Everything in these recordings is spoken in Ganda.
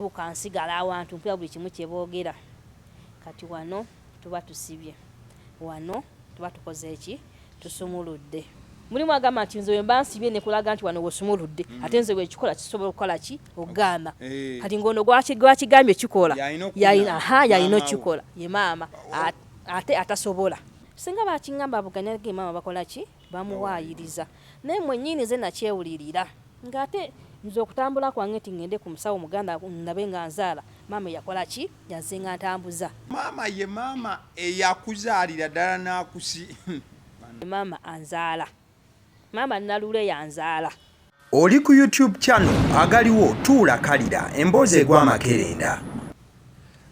Buka nsigala awantu mpulira buli kimu kyebogera kati wano tuba tusibye wano tuba tukoze eki tusumuludde mulimu agamba nti nze wemba nsibye nekulaga nti wano wosumuludde mm. ate nze wekikola kisobola okukola ki okugamba eh. kati ngaono gwakigambye kikola yalina okikola ye maama ate atasobola singa bakingamba buganyage maama bakola ki bamuwaayiriza naye mwennyini nze nakyewulirira nga ate nze okutambula kwange nti ngende ku musawo muganda ndabe nga nzaala maama eyakola ki yanze nga ntambuza maama ye maama eyakuzaalira ddala n'akusi maama anzaala maama nalule yanzaala oli ku youtube channel agaliwo tuula kalira emboozi egw'amakerenda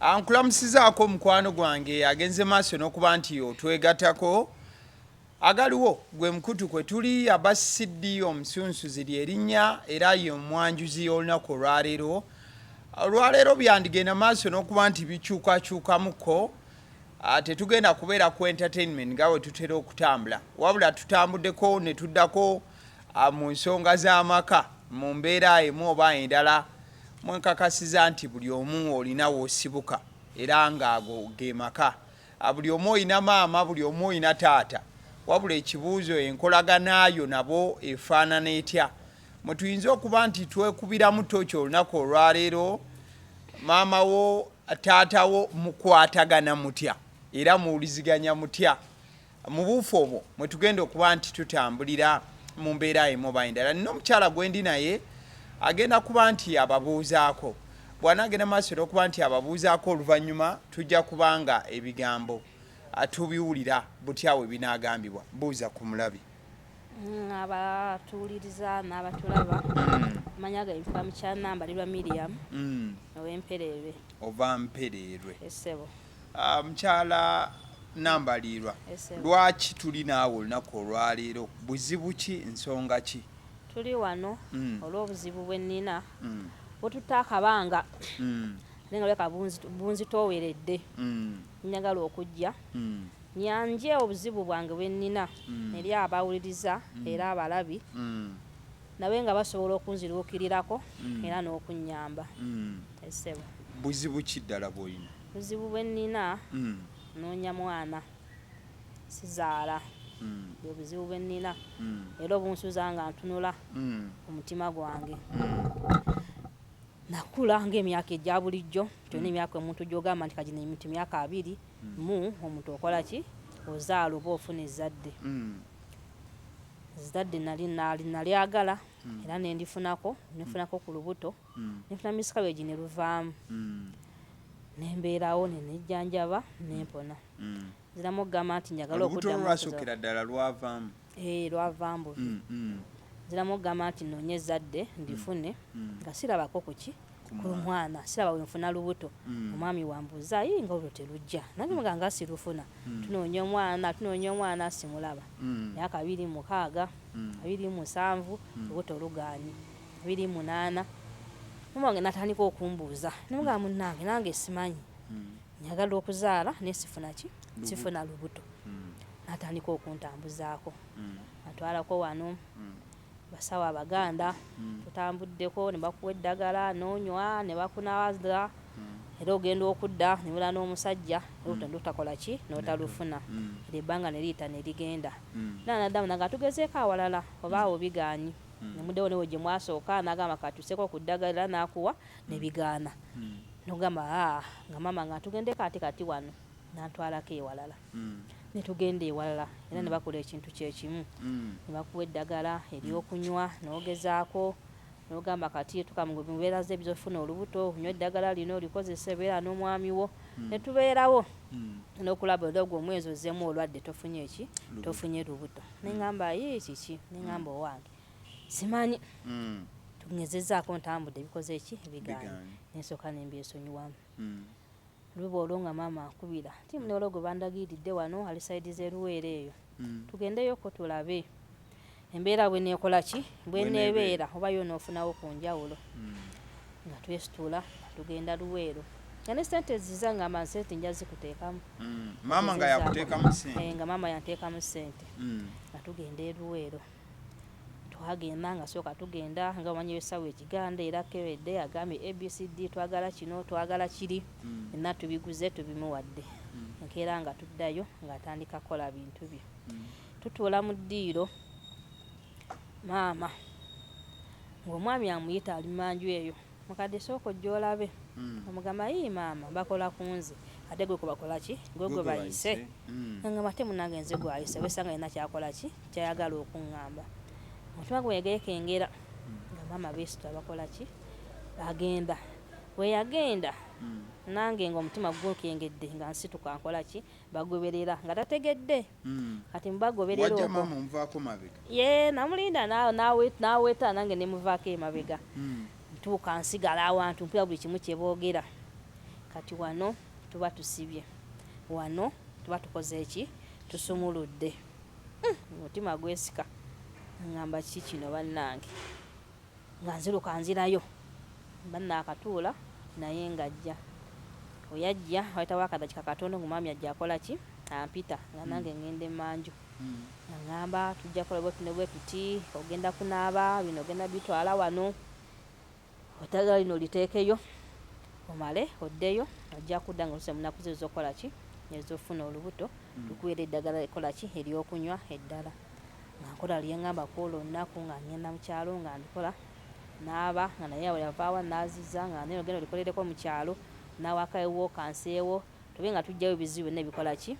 ankulamusizaako omukwano gwange agenze maaso n'okuba nti otwegatako Agaliwo gwe mukutu kwe tuli aba CD omusunsuzi lye linnya era ye omwanjuzi y'olunaku olwaleero. Olwaleero byandigenda maaso n'okuba nti bikyukakyukamuko ah, tetugenda kubeera ku entertainment nga we tutera okutambula wabula tutambuddeko ne tuddako ah, mu nsonga z'amaka mu mbeera emu oba endala mwenkakasiza nti buli omu olina w'osibuka era ng'ago ge maka A, Buli omu olina maama, buli omu olina taata. Wabula ekibuuzo, enkolagana yo nabo efaanana etya? Mwe tuyinza okuba nti twekubiramu tooki olunaku olwaleero. Maama wo, taata wo mukwatagana mutya era muwuliziganya mutya? Mu buufu obwo mwe tugenda okuba nti tutambulira mu mbeera emu oba endala. Nina omukyala gwendi naye agenda kuba nti ababuuzaako. Bw'anaagenda mu maaso n'okuba nti ababuuzaako oluvannyuma tujja kuba nga ebigambo ah, tubiwulira butya we binaagambibwa. Buuza ku mulabi. Mm, abatuwuliriza n'abatulaba mm. amanya gange ntuka mukyanamba lirwa miriam mm. owempereerwe ova mpereerwe esebo ah, mukyala namba liirwa lwaki tuli naawe olunaku olwaleero buzibu ki nsonga ki Tuli wano olw'obuzibu bwe nnina bututte akabanga ate nga bulabika bunzitooweredde. Njagala okujja nyanje obuzibu bwange bwe nnina eri abawuliriza era abalabi nabe nga basobola okunziruukirirako era n'okunnyamba. Ssebo. Buzibu ki ddala bw'olina? Obuzibu bwe nnina nnoonya mwana. sizaala bwe buzibu bwe nnina era obunsuza nga ntunula ku mutima gwange nakula ng'emyaka egya bulijjo gyona mm. emyaka omuntu gyogamba nti kagino emiti myaka abiri mm. mu omuntu okola ki ozaala oba ofuna ezzadde mm. ezzadde nali nalyagala era nendifunako nefunako ku lubuto mm. nefuna miss cabbage ne luvaamu mm. nembeerawo nenejjanjaba nempona mm. nziramu okugamba nti njagala okuddamuolwasukira ddala lwavaamu eh, lwavaamu buvi mm, mm. nziramu okugamba nti noonye ezzadde mm, ndifune mm. nga sirabako kuki ku mwana siraba wenfuna lubuto mm. omwami wambuuza ayi nga olwo telujja nange mm. muganga sirufuna mm. tunoonya omwana tunoonya omwana simulaba myaka abiri mukaaga abiri musanvu lubuto lugaanyi biri munaana mama wange natandika okumbuuza nemugamba munange nange simanyi hmm. njagala okuzaala naye sifuna ki sifuna lubuto hmm. natandika okuntambuzaako hmm. atwalako wano basawo abaganda tutambuddeko ne bakuwa eddagala nonywa ne bakunawaza era ogenda okudda nebula n'omusajja olututakola ki notalufuna era ebbanga ne liyita ne ligenda nanadamu naga tugezeeko awalala oba awo bigaanyi hmm. nemudewo newe gyemwasooka nagamba katuseko ku ddagala nakuwa hmm. nebigaana hmm. nogamba ah, nga mama nga tugende kati kati wano nantwalako ewalala netugenda ewalala era nebakola ekintu kyekimu nebakuwa eddagala eryokunywa nogezaako nogamba kati tukamubeera ze bizofuna olubuto onywa eddagala lino olikozesa ebeera n'omwami wo hmm. netubeerawo hmm. nokulaba ogwo omwezi ozemu olwadde tofunye eki tofunye lubuto neŋamba yii kiki neŋamba mm. owange simanyi mm. tungezezaako ntambudde ebikoze eki ebigaanyi nensooka nembyesonyiwamu mm. luba olwo nga maama akubira ti munoolo gwe bandagiiridde wano ali saidi zeruweera eyo tugendeyoko tulabe embeera bweneekola ki bweneebeera oba yo noofunawo ku njawulo nga twesitula tugenda luweero nga ne sente ziza ngamba nsente nja zikuteekamu mm, maama nga yakuteekamu sente eh, nga maama yanteekamu sente mm. nga tugenda eruweero twagenda nga sooka tugenda nga omanyi esawa ekiganda era kewedde agambye abcd twagala kino twagala kiri mm. enna tubiguze tubimuwadde nkeera nga tuddayo ng'atandika kukola bintu bye tutuula mu ddiiro maama ng'omwami amuyita ali manju eyo Mukadde sooka ojje olabe omugamba yii maama bakola kunze ate gwe gwebakolaki gwe gwebayise nengamba ate munange nze gwayise wesanga alina kyakolaki kyayagala okungamba omutima gwe wegekengera nga maama besitula bakolaki agenda weyagenda nange nga omutima gukengedde nga nsituka nkolaki bagoberera nga tategedde kati mubagoberera wajja okwo maama omuvaako mabega ye namulinda na- nawe- naweta nange nemuvaako emabega Mm. ntuuka nsigala awantu mpulira buli kimu kyeboogera kati wano tuba tusibye wano tuba tukoze eki tusumuludde Mm, omutima gwesika ngamba kiki kino bannange Nga nziruka nzirayo banno akatuula naye ng'ajja. Oyajja wayitawo akadakika katono ng'omwami ajja akola ki? Ampita nga nange ng'enda emanju. Ang'amba tujja kola bwetu ne bwetuti, ogenda kunaaba, bino ogenda bitwala wano, eddagala lino liteekeyo omale oddeyo, ojja kudda ng'otuuse mu nnaku zo ez'okukola ki? Ez'okufuna olubuto, tukuweere eddagala erikola ki? Ery'okunywa eddala. nga nkola lye ŋŋamba ku olwo olunaku nga ŋŋenda mu kyalo nga mbikola n'aba nga naye awo yava awa n'aziza nga naye ogenda olikolereko mu kyalo n'awaka ewuwo kanseewo tube nga tuggyayo ebizibu byonna ebikola ki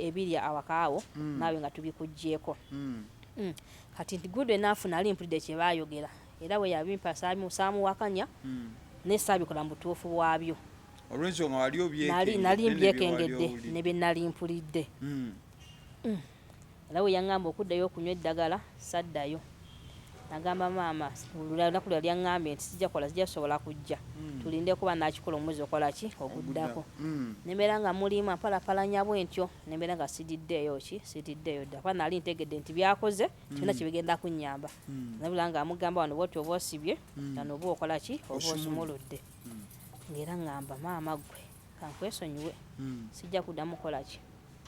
ebiri e, awaka awo mm. naawe nga tubikuggyeeko mm. mm. kati nti good enough nali mpulidde kye baayogera era bwe yabimpa saamuwakanya mm. naye saabikola mu butuufu bwabyo olwensonga wali obyekengedde nali mbyekengedde ne bye nali mpulidde mm. mm. Era bwe yaŋŋamba okuddayo okunywa eddagala, saddayo. Nnagamba maama, olunaku lwe yali aŋŋambye nti sijja kola, sijja sobola kujja, tulinde kuba anaakikola omwezi okola ki? oguddako. Ne mbeera nga muliima, mpalapalanya bwentyo, ne mbeera nga sididdeeyo ki? sididdeeyo dda, kuba nnali ntegedde nti by'akoze tebirina kye bigenda kunnyamba. Nnabula nga amugamba wano bw'otyo oba osibye, wano oba okola ki? oba osumuludde. Nga era ŋŋamba, maama ggwe, ka nkwesonyiwe, sijja kuddamu kukola ki?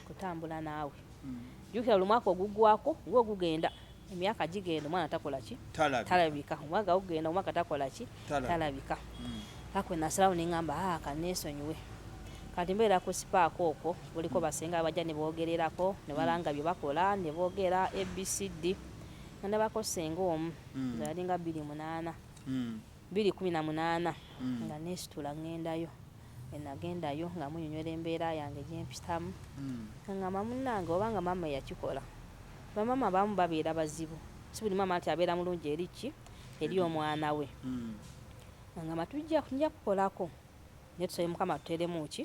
kutambula naawe mm. jukira buli mwaka oguggwako nga ogugenda emyaka gigenda omwana takola ki talabika omwaka ogugenda omwaka takola ki talabika mm. kakwe nasalawo neŋamba aa ah, kaneesonyiwe kati mbeera ku sipaako okwo buliko mm. basenga abajja ne boogererako ne balanga bye bakola ne boogera abcd nga ne bako senga omu zayalinga bbiri munaana Bbiri kumi na munaana nga nneesitula ng'endayo. Bwe nagendayo nga munnyonyola embeera yange gye mpitamu nga ng'amba munnange oba nga maama eyakikola. Bamaama abamu babeera bazibu, si buli maama nti abeera mulungi eri ki? Eri omwana we. Nga ng'amba tujja, nja kukolako naye tusabe Mukama atuteeremu ki?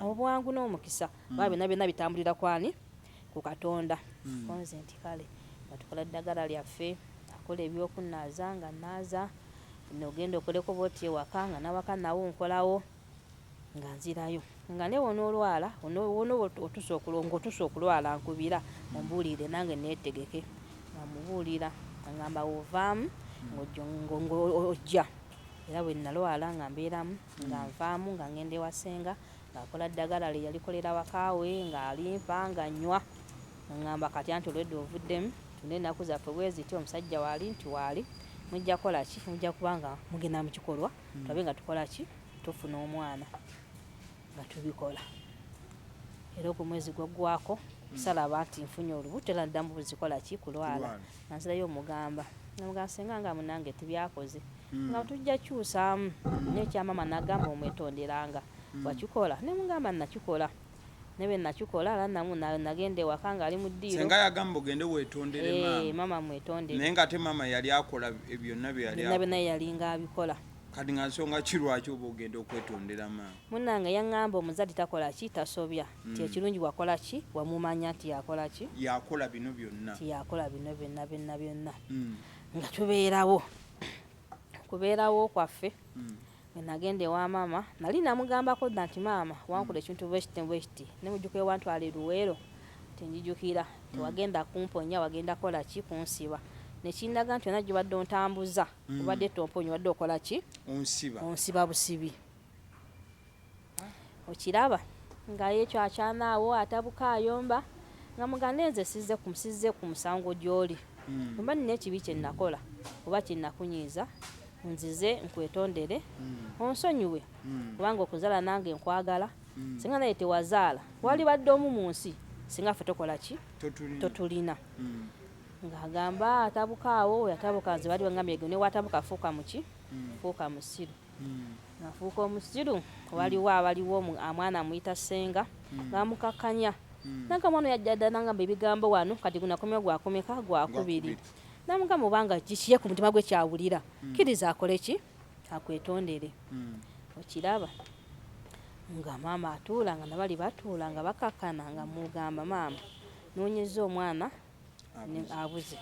Obwangu n'omukisa kubanga byonna byonna bitambulira ku ani? ku Katonda mm. konze nti kale nga tukola ddagala lyaffe akola ebyokunnaaza nga nnaaza nogenda okoleko boti ewaka nga nawaka nawo nkolawo nga nzirayo nga ne wonoolwala wona otusa ngaotusa okulwala nkubira ombuulire nange neetegeke nga mubuulira agamba wovaamu ng'ojja era bwe nnalwala nga mbeeramu nga nvaamu nga ngenda ewasenga Ng'akola ddagala lye yalikolera waka we ng'alimpa nga nnywa. Ng'angamba kati anti olwedda ovuddemu, tunda ennaku zaffe bwe ziti omusajja waali nti waali, mujja kukola ki? Mujja kuba nga mugenda mu kikolwa tulabe nga tukola ki? Tufuna omwana nga tubikola. Era ogwo omwezi gwaggwaako salaba nti nfunye olubuto era naddamu buzikola ki? Kulwala. Nanzirayo omugamba namugamba senga nga munange tibyakoze nga tujja kyusaamu naye ekya maama nagamba omwetonderanga wakikola nemugamba nakikola naye bwenakikola era namu na- nagenda ewaka nga ali mu ddiiro senga yagamba ogende wetondere Eh, maama maama mwetondere naye nga ate maama yali akola byonna byeyali byonna akola. byonna yalinga abikola kati nga nsonga ki lwaki oba ogenda okwetondera maama munange yaŋŋamba omuzadde takola ki tasobya nti ekirungi wakola ki wamumanya nti yakola ki yakola bino byonna nti yakola bino byonna byonna byonna Mm, nga tubeerawo kubeerawo kwaffe mm, Bwe nagenda ewa maama nali namugambako dda nti maama wankuda ekintu bwekiti bwekiti ne mujjuka ewantwala e luweero nti njijukira tewagenda kumponya wagenda kola ki kunsiba nekindaga nti yona gyobadde ontambuza mm. obadde tomponya obadde okola ki onsiba onsiba busibi okiraba nga yekyo akyanaawo atabuka ayomba nga muganda enze sizze ku sizze ku musango gy'oli mm. oba nina ekibi kye nnakola oba kye nnakunyiiza nzize nkwetondere mm. onsonyiwe mm. kubanga okuzala nange nkwagala mm. singa naye tewazaala wali badde omu mu nsi singa ffe tokola ki totulina mm. ng'agamba atabuka awo yatabuka nze bali bangambye gwe newatabuka fuuka muki hmm. fuuka musiru hmm. nafuuka omusiru hmm. waliwo abaliwo amwana amuyita senga namukakkanya nange omwana yajja dda nangamba ebigambo wano kati gunakomya gwakomeka gwakubiri namugamba obanga kikiye ku mutima gwe kyawulira kkiriza akole ki akwetondere okiraba nga maama atuula nga nabali batuula nga bakakana nga mugamba maama nonyeza omwana abuze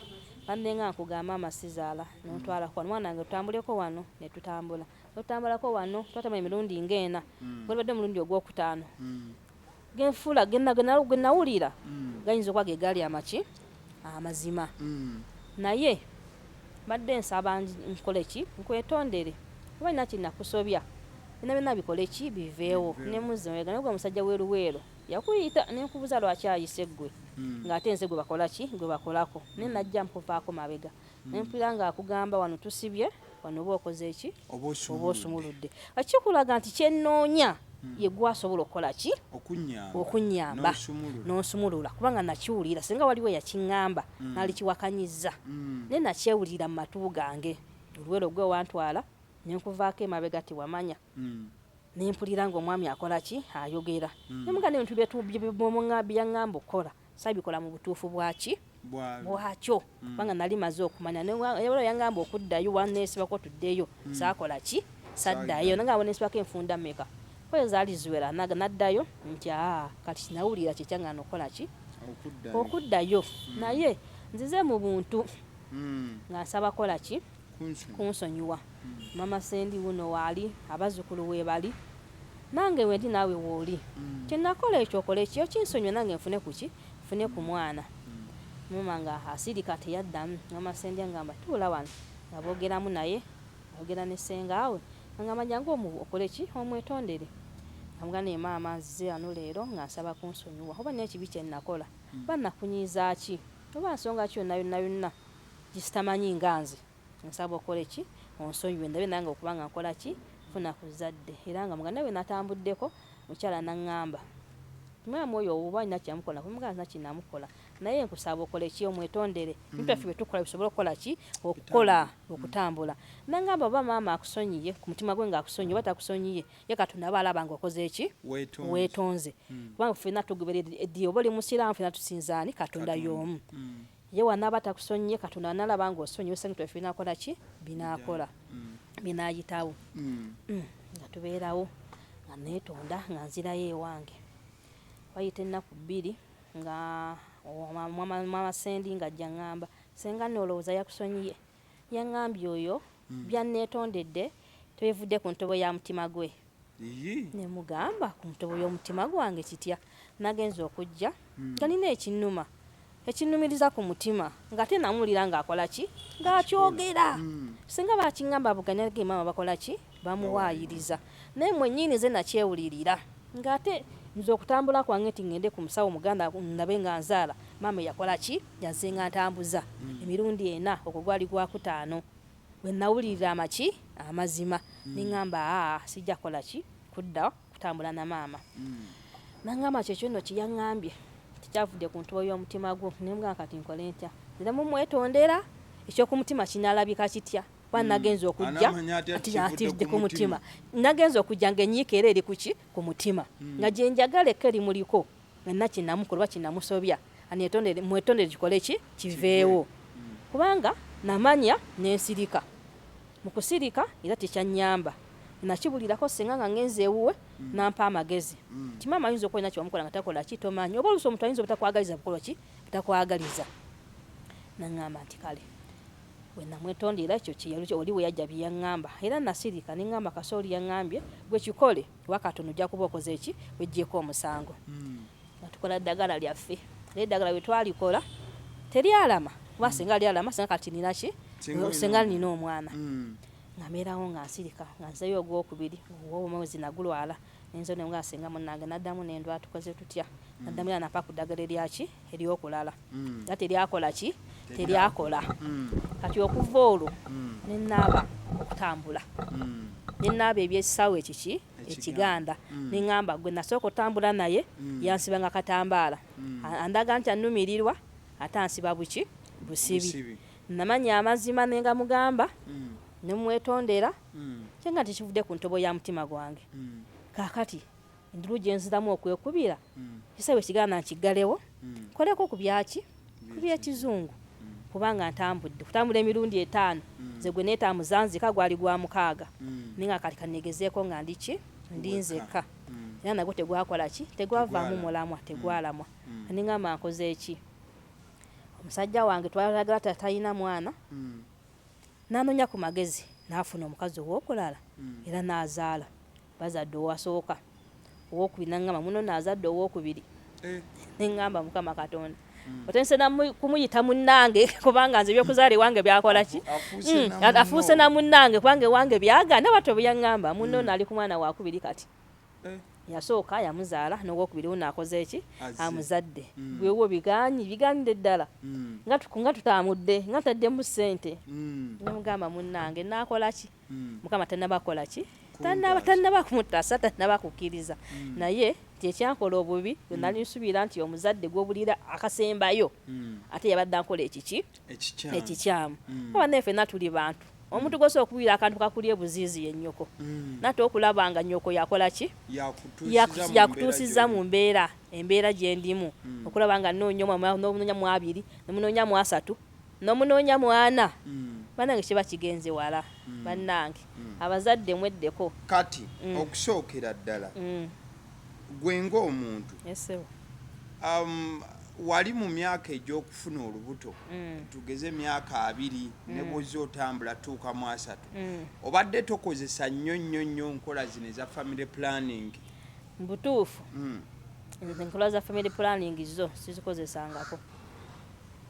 bambe nga nkuga maama sizaala nontwala kwa mwana nga tutambuleko wano ne tutambula tutambalako wano twatama emirundi nga ena mm. gwebadde omulundi ogwokutaano mm. genfuula genawulira mm. gayinza okuba gegaali amaki amazima mm. naye mbadde nsaba nkole ki nkwetondere oba nina kinakusobya bina byona bikole ki biveewo nemuzimwega naye gwe musajja weruweero mm. Yakuyita nenkubuza lwaki ayise gwe hmm. nga ate nze gwe bakola ki gwe bakolako ne hmm. najja mpupaako mabega hmm. nempulira nga akugamba wano tusibye wano oba okoze eki oba osumuludde akikulaga nti kyenoonya hmm. yegwasobola okukola ki okunyamba nonsumulula kubanga nakiwulira singa waliwo yakiŋamba hmm. nalikiwakanyiza hmm. naye nakyewulira mu matu gange oluwero gwe wantwala nenkuvaako emabega tiwamanya mm. nempulira nga omwami akola ki ayogera mm. nemuga nebintu byetubyangamba okukola sabikola mu butuufu bwaki bwakyo mm. kubanga mm. nali maze okumanya nebalo yangamba okuddayo wanesibako tuddeyo mm. sakola ki saddayo nanga abonesibako enfunda meka kweyo zaali ziwera naga naddayo nti aa kati kinawulira kyekyanga nokukola ki okuddayo mm. naye nzize mu buntu mm. nga nsaba kola ki kunsonyiwa mama sendi wuno waali abazukulu webali nange wendi naawe wooli mm. kyenakola ekyo okola ekyo kinsonyiwa nange nfune kuki nfune ku mwana mm. mama nga asirika teyaddamu mama sendi angamba tuula wano nga boogeramu naye ayogera ne sengaawe angamba jangu omu okole ki omwetondere amuga naye maama nzize wano leero nga nsaba kunsonyiwa oba naye ekibi kyenakola mm. oba nakunyiiza ki oba nsonga ki yonna yonna yonna Jisitamanyi nga nze nsaba okole ki onsonyiwe ndabe nange okuba nga nkola ki funa ku zadde era nga muganda we natambuddeko mukyala nangamba nti mwami oyo oba alina kyeyamukola nako muganda alina kinamukola naye nkusaba okole ki omwetondere mm. ntaffe byetukola bisobole okukola ki okukola mm. okutambula nangamba oba maama akusonyiye ku mutima gwe nga akusonyiye oba takusonyiye ye katonda aba alaba nga okoze ki wetonze mm. kubanga ffena tugoberera eddiyo oba oli musiraamu fena tusinzaani katonda y'omu mm. Ye wanaaba takusonyiye katonda analaba nga osonyiwe sente efe binakola ki binakola mm. binayitawo mm. mm. nga tubeerawo nga netonda nga nzirayo ewange wayita ennaku bbiri nga mama sendi nga ajja ngamba senga nolowooza yakusonyiye yangambye oyo mm. byanetondedde tebivudde ku ntobo ya mutima gwe ne mugamba ku ntobo y'omutima gwange kitya nagenza okujja hmm. nga nina ekinnuma ekinnumiriza ku mutima ng'ate namuwulira ng'akola ki ng'akyogera hmm. singa bakiŋamba abuganya ge maama bakola ki bamuwaayiriza naye mwennyini ze nakyewulirira ng'ate nze okutambula kwange nti ŋŋende ku musawo muganda ndabe nga nzaala maama yakola ki yazenga ntambuza hmm. emirundi ena ogwo gwali gwakutaano Bwe nnawulirira amaki, amazima, ne ŋŋamba, Aa, sijja kukola ki? Kudda kutambula na maama. N'aŋŋamba nti, Ekyo nno kye yaŋŋambye. Nti, Kyavudde ku ntobo y'omutima gwo. Ne mmugamba, Kati nkole ntya? Nziramu okumwetondera? Eky'oku mutima kinaalabika kitya? Kuba nnagenze okujja nti kivudde ku mutima. Nnagenze okujja nga ennyiike era eri ku ki? Ku mutima. Nga gye njagala ekka erimuliko. Nina kyenamukola oba kyenamusobya anetondere mwetondere kikole ki kiveewo kubanga namanya nensirika mukusirika era tekyanyamba nakibulirako senga nga ngenze ewuwe nampa amagezi nti maama ayinza okuba alina kyewamukola nga takola ki tomanyi oba oluusi omuntu ayinza obutakwagaliza bukola ki butakwagaliza nangamba nti kale wenamwetondera ekyo kyeyali oli weyajja byeyangamba era nasirika nengamba kasooli yangambye gwe kikole kuba katono ojja kuba okoze eki wejjeeko omusango hmm. nga tukola ddagala lyaffe naye eddagala bwe twalikola teryalama kuba hmm. singa lyalama singa kati nina ki singa nina omwana hmm. ngameerawo nga nsirika nga nzeyo ogwokubiri omwezi nagulwala nenzo ne nga singa munange naddamu nendwa tukoze tutya naddamu era napa ku ddagala eryaki eryokulala nga teryakola ki teryakola kati okuva olwo nenaaba okutambula nenaaba ebyekisaawe ekiki ekiganda mm. neŋamba gwe nasooka otambula naye mm. yansibanga katambaala mm. andaga nti anumirirwa ate ansiba buki busibi namanya amazima nengamugamba mm. nemwetondera mm. kyenga tekivude ku ntobo ya mutima gwange mm. kakati endulu gye nziramu okwekubira mm. kisawe kigana nkiggalewo mm. koleko ku byaki ku byekizungu mm. kubanga ntambudde kutambula emirundi etaano nze gwe neetambuza nzika gwali gwa mukaaga naye nga kati kanegezeeko nga ndiki ndi nzekka era nagwo tegwakola ki tegwavaamu mulamwa tegwalamwa aningamba nkoze eki omusajja wange twalagala tatalina mwana nanoonya ku magezi naafuna omukazi ow'okulala era naazaala Bazadde owasooka, owokubiri nangamba muno no azadde owokubiri eh. nengamba mukama katonda hmm. otandise kumuyita munnange kubanga nze ebyokuzaala ewange byakola ki afuuse na munnange hmm. kubanga ewange byagana batyo byeyaŋŋamba muno hmm. naali ku mwana wakubiri kati eh. yasooka yamuzaala nowokubiri uno akoze eki amuzadde bwewo biganyi biganide ddala nga tutamudde nga taddemu ssente nemugamba munnange nakola ki mm. mukama tanaba kolaki tanaba tanaba kumutasa tanaba kukiriza mm. naye kyekyankola obubi mm. nali nsubira nti omuzadde gwobulira akasembayo mm. ate yabadde ankola ekiki ekikyamu mm. aba naye fena tuli bantu omuntu mm. gwosobola okuwira akantu kakuli ebuziizi yenyoko mm. nate okulaba nga nyoko yakola ki yakutuusiza mu mbeera embeera gyendimu mm. okulaba nga nonya nobunonya mwabiri nemunonya mwasatu mm. Nomunoonya mwana banange kiba kigenze wala banange abazadde mweddeko. Kati okusookera ddala gwe nga omuntu wali mu myaka egyokufuna olubuto tugeze myaka abiri nebwozze otambula tutuuka mu asatu obadde tokozesa nnyo nnyo nnyo nkola zino eza family planning? Mubutuufu nze enkola za family planning zo sizikozesangako.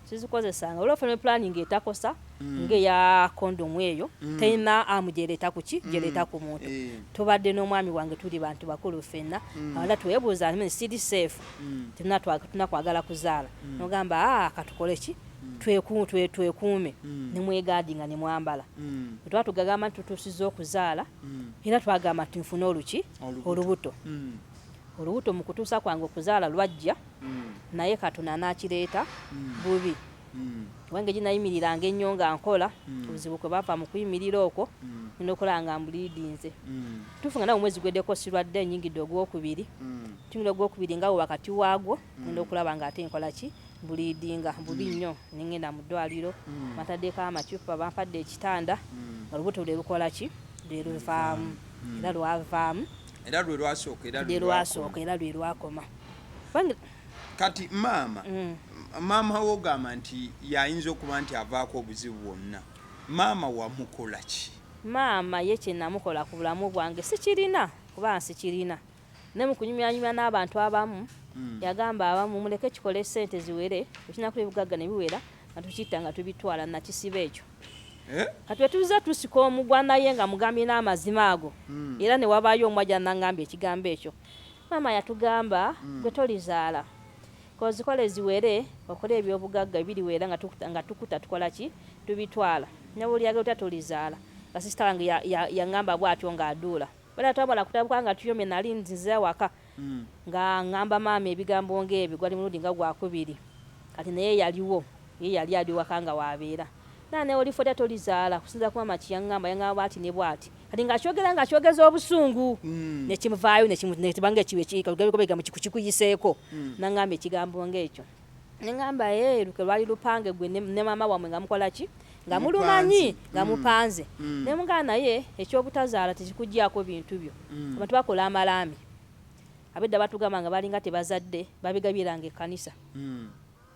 sizikozesanga olwa family planning etakosa mm. nge ya condom eyo mm. tena amujereta kuki mm. jereta ku muntu e. tubadde n'omwami wange tuli bantu bakulu fenna mm. ala twebuza ni sidi safe mm. tena twa tuna kwagala kuzala mm. nogamba ah katukole ki mm. tweku twe twekume mm. ni mwegadi nga ni mwambala mm. twa tugagama tutusizo kuzala mm. era twagama tunfuna oluki olubuto mm. Olubuto mu kutuusa kwange okuzaala lwajja naye Katonda n'akireeta bubi. Wange gye nayimiriranga ennyo nga nkola, obuzibu kwe bava mu kuyimirira okwo ne ndokola nga mbuliidinze. Kituufu nga nawe omwezi guweddeko sirwadde nnyingidde ogwokubiri. Ntunula ogwokubiri nga we wakati waagwo ngenda okulaba ng'ate nkola ki? Mbuliidinga bubi nnyo ne ngenda mu ddwaaliro bantaddeko amacupa, bampadde ekitanda nga olubuto lwe lukola ki? Lwe luvaamu era lwavaamu. era lwe lwasooka era lwe lwasooka era lwe lwakoma kati maama mm. maama wo ogamba nti yayinza okuba nti avaako obuzibu bwonna maama wamukola ki maama ye kyenamukola ku bulamu bwange sikirina kuba nsikirina ne mu kunyumyanyumya n'abantu abamu mm. yagamba abamu muleke kikole sente ziwere ekinaku ebigagga ne biwera mm. atukitta nga tubitwala nakisiba ekyo eh? kati wetuza tusika omugwa naye nga mugambye n'amazima ago hmm. era ne wabaayo omu ajja nangambye ekigambo ekyo maama yatugamba hmm. gwe tolizaala kozikola eziwere okola ebyobugagga ebiriwera nga tukuta tukola ki tubitwala nabulyaga otya tolizaala nga sisita wange yangamba bwatyo ng'aduula bala twamala kutabuka nga tuyomye nali nzize awaka mm. nga ngamba maama ebigambo ngaebyo gwali mulundi nga gwakubiri kati naye yaliwo ye yali ali waka nga wabeera naa naye olifota tolizaala kusinza ku maama kyeyangamba yangamba bwati ne bwati kati ngakyogera nga kyogeza obusungu mm. nekimuvaayo nekibanga ekiwekiika lugabegobegambo kikuyiseeko mm. nangamba ekigambo ngaekyo Nengamba ee eh, luke lwali lupange gwe ne mama wamwe nga mukola ki nga mulumanyi nga mm. mupanze mm. ne mugaa naye ekyobutazaala tekikugyako bintu byo mm. abantu bakola amalaami abedda batugamba nga balinga tebazadde babigabiranga ekanisa mm.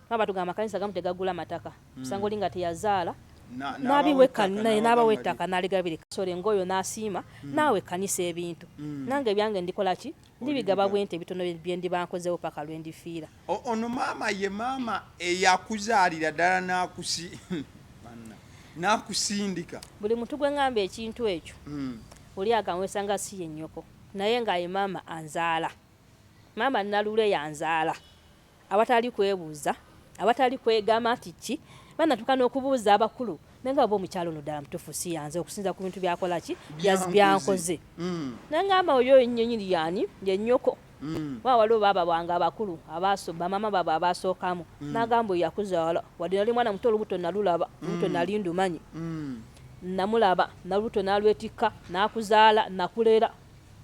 batugamba amakanisa gamu tegagula mataka mm. sanga olinga teyazaala nabawe ettaka naligabira kasole ngaoyo nasiima mm. naawe ekkanisa ebintu mm. nange ebyange ndikolaki ndibigaba bwente ebitono byendibankozewo paka lwendifiira Ono maama ye maama eyakuzaalira ddala nakusi nakusindika buli muntu gwe ngamba ekintu ekyo mm. oli akanwesa nga si yennyoko naye nga ye maama anzaala maama nalule yanzaala awatali kwebuuza awatali kwegamba nti ki banatuuka n'okubuuza abakulu naye nga oba omukyalo ono ddala mutuufu si yanze okusinza ku bintu byakola ki byankoze mm. naye ngamba oyo yennyini yani yennyoko mm. wa waliwo baaba bange abakulu abaaso bamama baabwe abaasookamu mm. nagamba oyo yakuzaala wadde nali mwana muto olubuto nalulaba olubuto mm. nali ndumanyi mm. namulaba nalubuto nalwetikka nakuzaala nakulera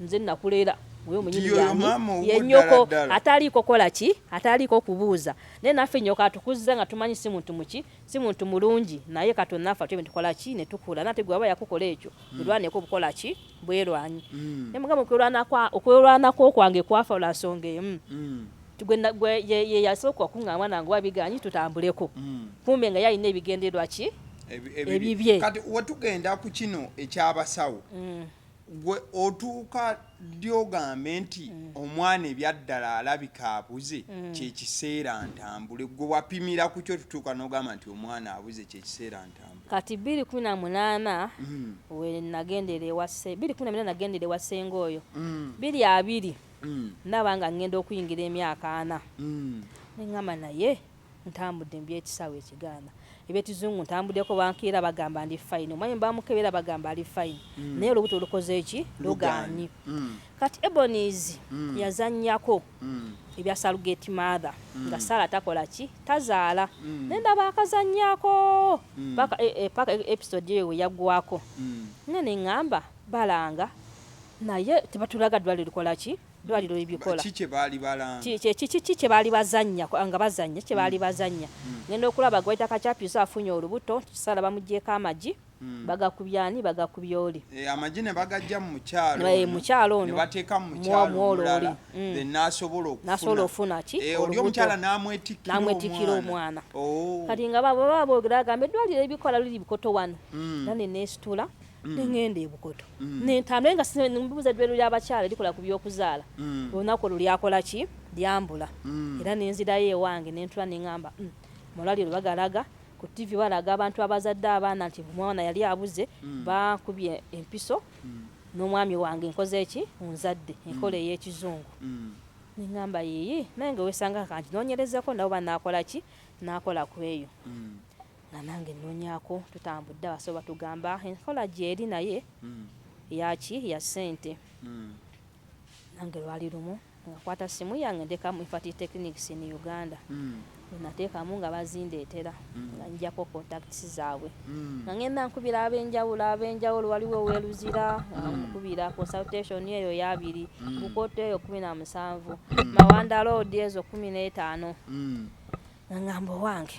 nze nakulera oyo munyini yange yenyoko ataliiko kola ki ataliiko kubuuza naye naffe nyoko atukuzza nga tumanyi si muntu muki si muntu mulungi naye katonda naffe atyo netukola ki netukula nate gwe aba yakukola ekyo mm. olwaneko obukola ki bwerwanyi mm. ne mugamba okwelwana kwa okwelwana ko kwange kwafa la songa emu mm. tugwe gwe ye, ye yasoko kunga mwana ngo wabiganyi tutambuleko mm. kumbe nga yali nebigenderwa ki ebibye kati wetugenda ku kino ekyabasawo mm. gwe otuuka dyogambe nti mm. omwana ebyaddala alabika abuze mm. kyekiseera ntambule gwe wapimira ku kyo tutuuka nogamba nti omwana abuze kyekiseera Kati bbiri kumi na munaana mm. we nagendera ewa bbiri kumi na munaana nagendera ewa ssenga oyo mm. biri abiri mm. ndaba nga ngenda okuyingira emyaka ana neŋŋamba naye ntambudde mu byekisaawe ekigaana ebyekizungu ntambuddeko bankiira bagamba ndi fayini omwami bamukebera bagamba ali fayini naye olubuto olukoze eki lugaanyi kati ebonies yazannyako mm. ebya salugate mother mm. nga sala takola ki tazaala mm. naye ndaba akazanyako mm. paka, e, e, paka e, episode eyo weyagwako mm. nga neŋŋamba balanga naye tebatulaga dwali likola ki dwaliro ebikola kiki kyebaali bazanya nga bazanya kyebaali mm. bazanya mm. ngenda okulaba gwaita kakyapyusa afunye olubuto kisala bamugyeko amagi mm. Hmm. bagakubye ani bagakubye oli eh, amagi ne bagajja mu mukyalo eh, mukyalo ono ne bateeka mu mukyalo omulala hmm. then n'asobola okufuna n'asobola okufuna ki eh, oli omukyala n'amwetikkira n'amwetikkira omwana oh. kati nga baba baba boogera agamba eddwaliro ebikola luli bikoto wano hmm. nane neesitula nengenda ebukoto nentambula nga mbuuza eddwaliro ly'abakyala likola ku by'okuzaala olunaku olwo lyakola ki lyambula era nenzirayo ewange nentula nengamba mm, mu lwaliro bagalaga Ku ttivi balaga abantu abazadde abaana nti omwana yali abuze, bankubye empiso n'omwami wange nkoze ki? Onzadde enkola ey'ekizungu. Ne ŋŋamba yiiyi naye nga weesanga ka nkinoonyerezeko nabo banaakola ki? Naakola ku eyo nga nange nnoonyako. Tutambudde abasawo batugamba enkola gy'eri naye ya ki? Ya ssente. Nange lwali lumu. Nakwata ssimu yange ntekamu Ifati Technics in Uganda nateekamu nga bazindeetera nga njjako contacts zaabwe nga ngenda nkubira ab'enjawulo ab'enjawulo waliwo ow'e Luzira nga nkubira consultation eyo y'abiri Bukoto eyo kkumi na musanvu Mawanda Road ezo kkumi n'etaano nga ngamba owange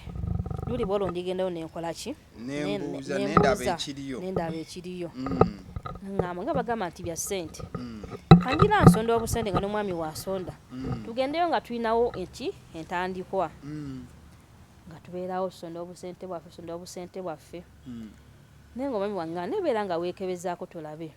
luli bwolwo ndigendayo ne nkola ki? nembuuza nendaba ekiriyo nendaba ekiriyo mm. ngamba nga bagamba nti bya sente mm. kanjira nsonda obusente nga nomwami wasonda mm. tugendeyo nga tulinawo eki entandikwa nga tubeerawo tusonda obusente bwaffe tusonda obusente bwaffe naye nga omwami wange nebeera nga wekebezaako tulabe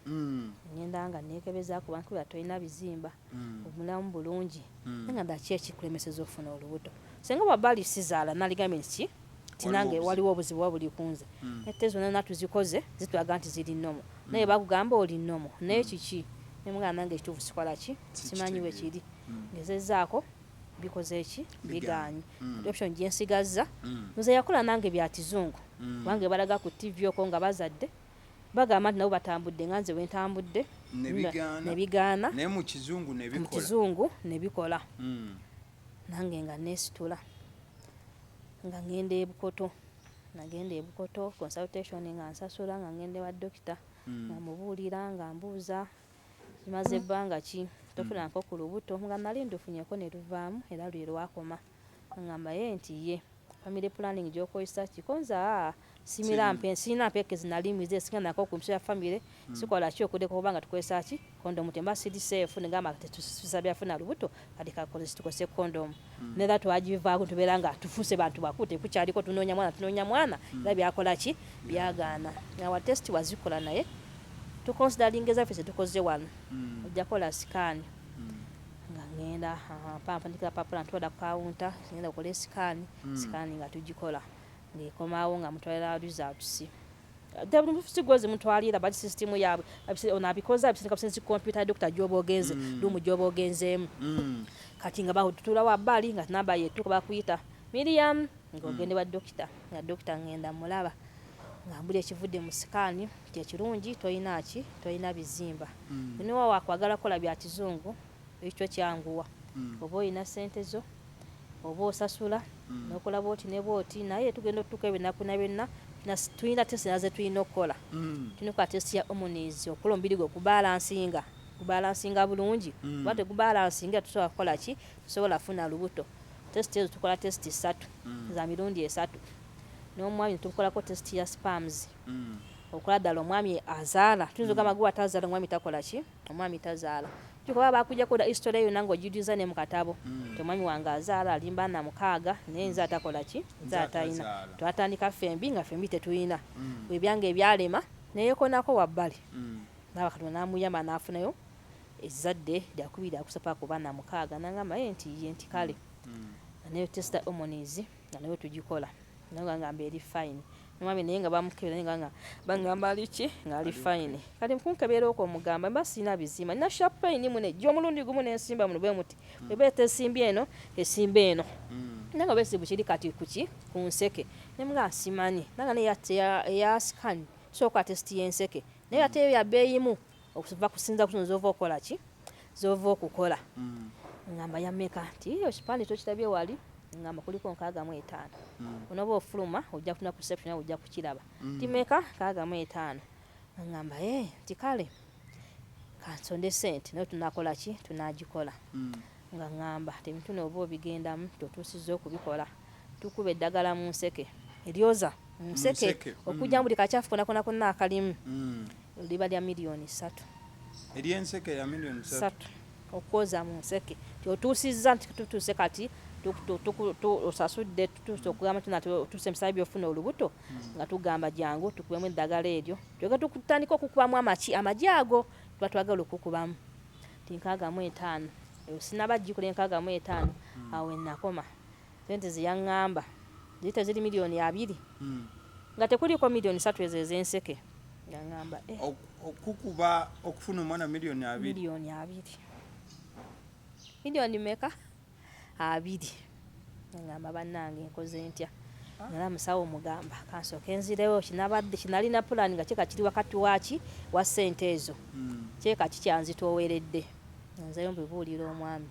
ngenda nga nekebezaako bankubira tolina bizimba mm. omulamu bulungi mm. nangamba ki ekikulemeseza okufuna olubuto senga wabali sizaala naligambye nti tinange waliwo obuzibu wa buli kunze mm. ete zona natuzikoze zitulaga nti ziri nomo mm. naye bakugamba oli nomo naye mm. kiki nemugamba nange ekituufu sikola ki simanyi wekiri mm. ngezezaako mm. bikoze eki biganye mm. option gye nsigazza mm. nze yakola nange bya kizungu mm. kubanga ebalaga ku tv oko nga bazadde Bagamba nti nabo batambudde nga nze bwe ntambudde ne bigaana, naye mu Kizungu ne bikola, mu Kizungu ne bikola. Hmm. Nange nga neesitula nga ŋŋenda e Bukoto, nagenda e Bukoto consultation nga nsasula nga ŋŋenda ewa dokita hmm. nga mubuulira nga mbuuza maze ebbanga ki tofunanko ku lubuto nga nali ndufunyeko ne luvaamu era lwe lwakoma. Angamba yee nti ye family planning gyokoyesa kiko nze aa simira mpe sirina mpeke zinali mwize esinga nako ku mpiso ya family hmm. sikola ki okudeko kubanga tukozesa ki kondomu temba siri safe negamba tetusabira funa lubuto kati kakozesa tukozese kondomu hmm. nera twagivaako tubeera nga tufuse bantu bakulu tekukyaliko tunoonya mwana tunoonya mwana hmm. era byakola ki byagaana awa test wazikola naye tukonsidalinga ezaffe zetukoze wano ojjakola sikaani nga ŋŋenda mpa mpandika kapapula ntwala ku kawunta ŋŋenda kola esikaani hmm. sikaani nga tugikola ng'ekomawo nga mutwalira results sigwezi mutwalira bali sisitimu yaabwe ono abikoze abisindika businzi kompyuta ya dokita gyoba ogenze hmm. luumu gyoba ogenzeemu hmm. kati nga batutula wa bbali nga namba yetuuka bakuyita miriam ng'ogende wa dokita nga dokita ŋŋenda mulaba nga mbuli ekivudde mu sikaani kye kirungi tolina ki tolina bizimba mm. niwa wakwagala kola bya kizungu ekyo kyanguwa mm. oba olina sente zo oba osasula mm. nokola bwoti ne bwoti naye tugenda otutuka ebinaku na byonna tulina tesi naze tulina okukola mm. tulina okukola tesi ya omunizi okukola omubiri gwe okubalansinga okubalansinga bulungi mm. oba tegubalansinga tusobola kukola ki tusobola funa lubuto testi ezo tukola testi satu mm. za mirundi esatu n'omwami ne tumukolako tesiti ya sperms okola ddala omwami azaala tuyinza ogamba gwe atazaala omwami takola ki omwami tazaala kyokuba bakujjako da history eyo nange ogijuza ne mu katabo mm. ti omwami wange azaala alimba na mukaaga naye nze atakola ki nze atalina twatandika ffembi nga ffembi tetulina mm. ebyange ebyalema neyekonako wabbali mm. naaba katonda namuyamba nafunayo ezzadde lyakubiri akusapa kuba na mukaaga nangamba ye nti ye nti kale nayo testa omonizi nga nayo tugikola naye nga ngamba eri fine nomwami naye nga bamukebera naye nga nga bangamba ali ki nga ali fine kati mukunkebeera okwo mugamba mba sirina bizima nina sharp pain mune ejja omulundi gumu nensimba muno bwe muti mm. eba etesimba eno esimba eno mm. nanga besibu kiri kati kuki ku nseke naye mga nsimanyi nanga naye eya scan sooka test yenseke naye ate eyo yabeeyimu okuva kusinza kuno zova okola ki zova okukola mm. ngamba yameka nti iyo kipande tokitabye wali ngamba kuliko nkaaga mu etaano mm. onoba ofuluma ojja kutuna ku reception awo ojja kukiraba mm. timeka nkaaga mu etaano ngamba e eh, nti kale kansonde sente naye tunakola ki tunagikola mm. nga ngamba tebintu nooba obigendamu totuusiza okubikola Tukuba eddagala mu nseke eryoza mu nseke okujja mu buli kakyafu konakona konna akalimu liba lya miliyoni ssatu eryenseke ya miliyoni ssatu okwoza mu nseke kyotuusizza nti tutuuse kati osasudde tutuuse okugamba tuna otuuse emisala byofuna olubuto hmm. nga tugamba jangu tukubemu eddagala eryo kyoga tutandika okukubamu amaki amagi ago tuba twagala okukubamu ti nkaaga mu etaano sinaba jikula enkaaga mu etaano hmm. awo enakoma Ssente ze yang'amba ziyita ziri miliyooni abiri nga tekuliiko miliyooni ssatu ezo ez'enseke. Yang'amba eh. Okukukuba okufuna omwana miliyooni abiri? Miliyooni abiri. Miliyooni mmeka? Abiri. Yang'amba bannange nkoze ntya? Nalaba musawo omugamba ka nsooke nzirewo kye nabadde kye nalina pulaani nga kyeka kiri wakati wa ki wa ssente ezo kyeka ki kyanzitooweredde. Nzeeyo mbibuulire omwami.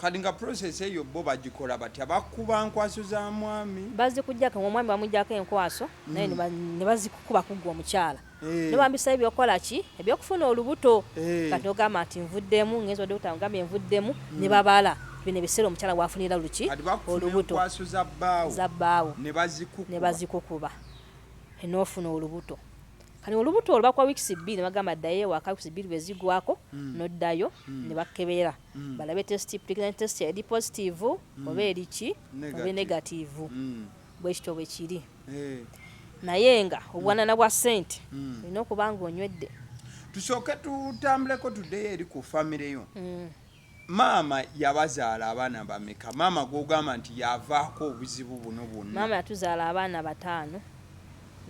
Kati nga process eyo bbo bagikola batya? Bakuba nkwaso za mwami? Bazikujjako nga omwami bamujjako enkwaso mm. naye ne bazikukuba kugwa omukyala hey. Eh. Nebambisa ebyokukola ki ebyokufuna olubuto hey. Eh. Kati ogamba nti nvuddemu ngenzi odde kutanga ogambye nvuddemu mm. ne babala bino ebiseera omukyala wafunira luki olubuto za bbaawo ne bazikukuba enofuna olubuto kati olubuto olubakwa wiikisi bbiri ne bagamba ddayo ewaka wiikisi bbiri bwe zigwako mm. noddayo mm. ne bakebera mm. balabe test pregnancy test eri positive mm. oba eri ki oba negative mm. bwekityo bwe kiri hey. Eh. naye nga obwanana mm. bwa sente mm. olina okuba nga onywedde tusooke tutambuleko tudeyo eri ku famire yo mm. maama yabazaala abaana bameka maama gwogamba nti yavaako obuzibu buno bwonna maama yatuzaala abaana bataano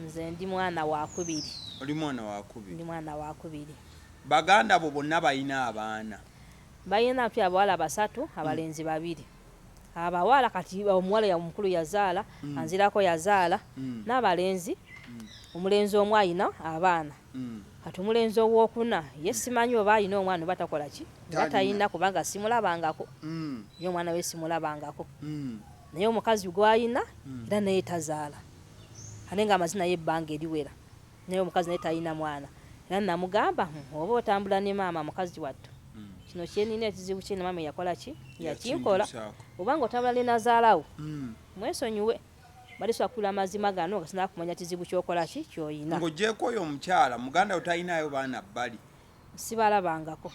nze ndi mwana wakubiri oli mwana wakubiri ndi mwana wakubiri Baganda bo bonna balina abaana? Balina ki abawala basatu abalenzi babiri abawala kati omuwala omukulu yazaala mm. anzirako yazaala mm. n'abalenzi mm. omulenzi omu alina abaana mm. kati omulenzi owokuna ye simanyi oba alina omwana oba takola ki oba talina kubanga simulabangako mm. ye omwana we simulabangako mm. naye omukazi gwalina mm. era naye tazaala ate nga amazina ye ebbanga eriwera naye omukazi naye talina mwana era namugamba hmm, oba otambula ne maama mukazi wattu hmm. kino kyenina ekizibu kyena maama yakola ki yakinkola obanga otambula ne nazaalawo hmm. mwesonyiwe balisobola kula amazima gano nga sinaba kumanya kizibu kyokola ki kyoyina ngaogyeko oyo omukyala muganda we talinayo baana bbali sibalabangako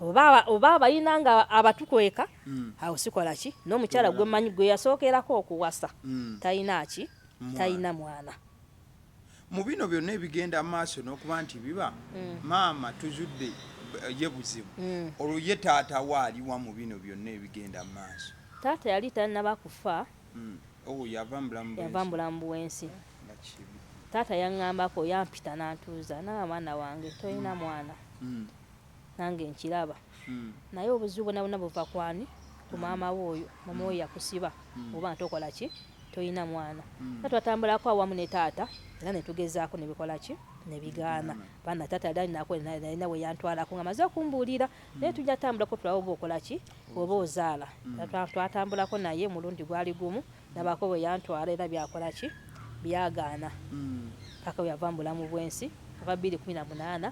oba abalina nga abatukweka awo sikola ki n'omukyala gwemanyi gwe yasookerako okuwasa talina ki talina mwana. Mu bino byonna ebigenda maaso n'okuba nti biba mm. maama tuzudde ye buzibu mm. olwo ye taata we aliwa mu bino byonna ebigenda mu maaso taata yali tanaba kufa mm. oh, yava mubulamu bwensi taata yaŋŋambako yampita n'antuuza naabaana wange tolina mm. mwana mm. Nange nkiraba naye obuzibu bwona bwona buva kwani ku maama wo oyo maama wo yakusiba oba nga tokola ki toyina mwana era twatambulako awamu ne taata era netugezako nebikola ki nebigaana bana taata yali alinako nalina weyantwalako nga maze okumbuulira naye tujja tambulako tulabe oba okola ki oba ozaala twatambulako naye omulundi gwali gumu nabako weyantwala era byakola ki byagaana paka weyava mu bulamu bwensi ova bbiri kumi na munaana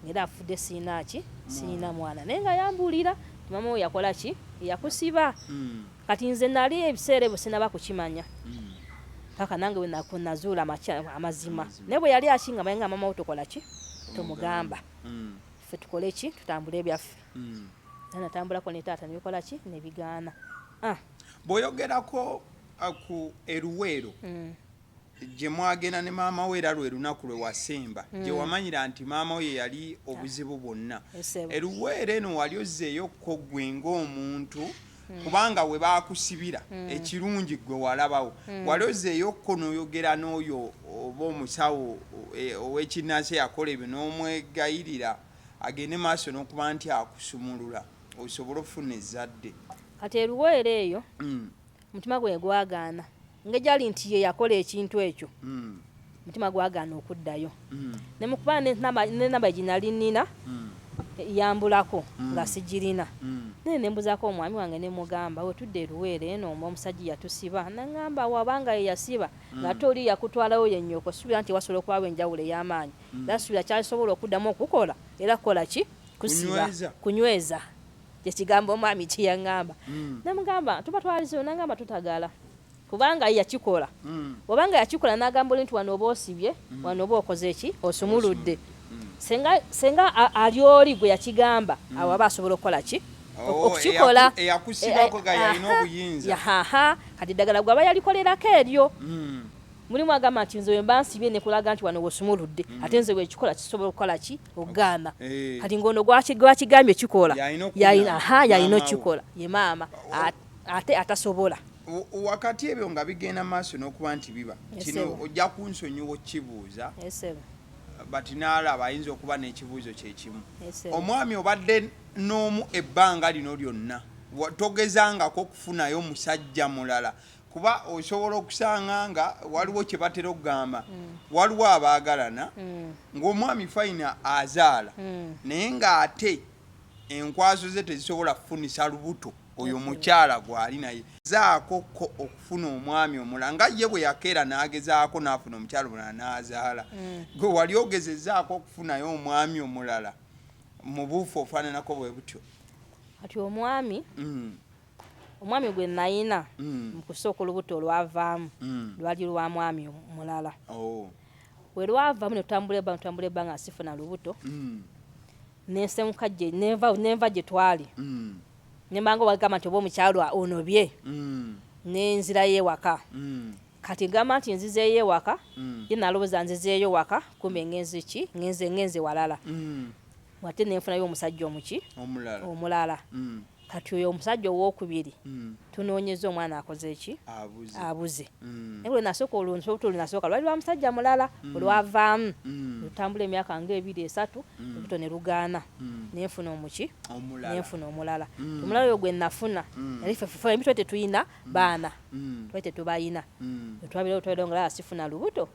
Era afudde sirina ki sirina mwana naye nga yambuulira maama wo yakola ki yakusiba mm. kati nze nali ebiseera ebyo sinaba kukimanya mm. paka nange wenazuula amazima naye bwe yali akinga maye nga maama wo tokola ki tomugamba mm. fe tukole ki tutambule ebyaffe mm. natambulako ne taata nebikola ki nebigaana ah. bwoyogerako aku eruweero mm. gye mwagenda ne maama wo era lwe lunaku lwe wasemba mm. gye wamanyira nti maama wo ye yali obuzibu bwonna eruweera eno wali ozzeeyo ko ggwe ng'omuntu mm. kubanga we baakusibira mm. ekirungi ggwe walabawo mm. wali ozzeeyo ko n'oyogera n'oyo oba omusawo e, ow'ekinnansi eyakola ebyo n'omwegayirira agende maaso n'okuba nti akusumulula osobole okufuna ezzadde kati eruweera eyo mm. omutima gwe gwagaana ngejali nti ye yakola ekintu ekyo mm. omutima gwagaana okuddayo mm. ne mu kuba nenamba gye nali nnina mm. yambulako mm. nga sigirina mm. naye ne mbuzaako omwami wange ne mugamba we tudde eruweere eno omu omusajja yatusiba naŋamba wabanga ye yasiba mm. nga ate oli yakutwalawo yennyoko suubira nti wasobola okubawo enjawulo ey'amaanyi mm. era suubira kyasobola okuddamu okukola era kukola ki kusiba kunyweza kyekigambo omwami kyeyangamba mm. namugamba tuba twalizeyo nangamba tutagala kubanga yakikola mm. obanga yakikola nagamba oli nti wano oba osibye mm. wano oba okoze ki osumuludde senga senga ali oli gwe yakigamba awo aba asobola okukola ki oh, okukikola e, e, e, kati ddagala gwe aba yalikolerako eryo mulimu agamba nti nze wemba nsibye nekulaga nti wano wosumuludde ate nze wekikola kisobola okukola ki okugamba eh. kati ngaono gwakigambye kikola yalina okukikola ye maama ate atasobola wakati ebyo nga bigenda maaso n'okuba nti biba kino ojja kunsonyiwa okibuuza but naalaba ayinza okuba n'ekibuuzo kyekimu omwami obadde n'omu ebbanga lino lyonna togezangako okufunayo musajja mulala kuba osobola okusanga nga waliwo kye batera okugamba mm. waliwo abaagalana mm. ng'omwami fayina azaala mm. naye ng'ate enkwaso ze tezisobola kufunisa lubuto oyo mukyala gwali naye zaako ko okufuna omwami omula nga ye bwe yakeera n'agezaako n'afuna omukyala omulala n'azaala gwe wali ogezezaako okufunayo omwami omulala mu buufu ofaananako bwe butyo kati omwami Omwami gwe nnalina mu kusooka olubuto olwavaamu lwali lwa mwami mulala. Bwe lwavaamu ne tutambula ebbanga ne tutambula ebbanga nga sifuna lubuto, ne nsenguka gye ne nva ne nva gye twali ne mba nga obagamba nti oba omukyala onobye ne nzirayo ewaka. Kati ngamba nti nzizeeyo ewaka, ye nalowooza nzizeeyo waka kumbe ngenze ki? Ngenze ngenze walala ate ne nfunayo omusajja omuki? Omulala. kati oyo omusajja owokubiri mm. tunoonyeza omwana akoze ki abuze mm. naye lwenasooka olunsobuto olunasooka lwali lwa musajja mulala mm. olwavaamu lutambula emyaka nga ebiri esatu olubuto ne lugaana nenfuna omuki nenfuna omulala omulala oyo gwe nafuna naye fefemi twali tetulina baana twali tetubalina twabira otwabira nga lala sifuna lubuto